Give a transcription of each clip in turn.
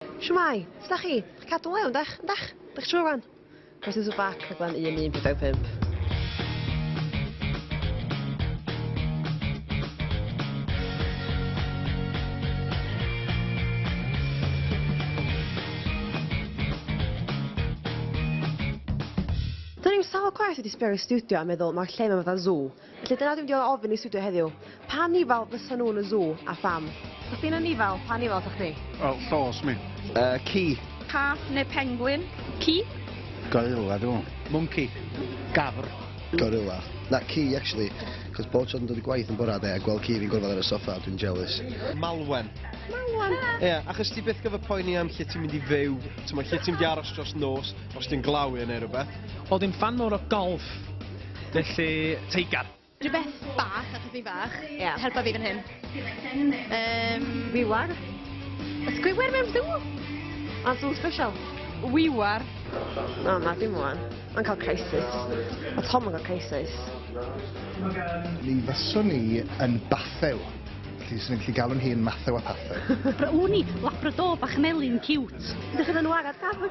Shwmae, sut da chi? Chi'n cadw'n lew, ydych? Ydych? Ydych trwy wan? Croeso to back, rhaglen 1145. Do'n i'm sawl gwaith wedi sbio i studio a meddwl mae'r lle yma fatha zoo. Felly dyna dwi'n diolch ofyn i studio heddiw. Pa nifal fysa nhw'n y zoo a pham? Os ti'n yn nifal, pa nifal sa chdi? Wel, llos mi. Uh, ci. Cath neu pengwyn? Ci. Gorilla dwi. Monkey. Gafr. Gorilla. Na, ci, actually. Cos bob tro dwi'n dod i gwaith yn bora de a gweld ci fi'n gorfod ar y soffa, dwi'n jealous. Malwen. Malwen? Ie, yeah, achos ti byth gyfer poeni am lle ti'n mynd i fyw, ti'n mynd lle ti'n mynd i aros dros nos, os ti'n glawi yn ei rhywbeth. O, ddim fan mor o golf. Felly, teigar. Rhywbeth bach, achos fi'n fach. Yeah. Helpa fi fan hyn. Um, Wiwar. Ysgwywer mewn sŵ? A sŵ special. Wiwar. Na, na, dim wan. Mae'n cael crisis. A Tom yn cael crisis. Mi fyswn ni yn bathew. Felly, sy'n gallu galw'n hi yn mathew a pathew. Bra wn i, labrador bach melyn cute. Ydych chi'n anwarad, Gafr?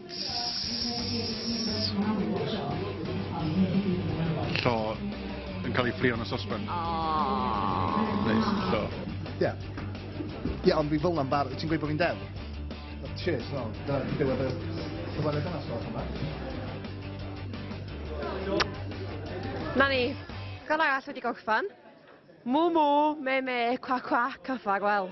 Llo yn cael ei ffrio yn y sosben. Neis, llo. Ie. Ie, ond fi fel na'n bar... Ti'n gweud bod fi'n dew? Cheers, no. Da, fi dewed y... Cyfweliad yna, sgwrs yma. Na ni. Gan arall wedi gorffan. Mw mw, me me, cwa cwa, cyffag, wel.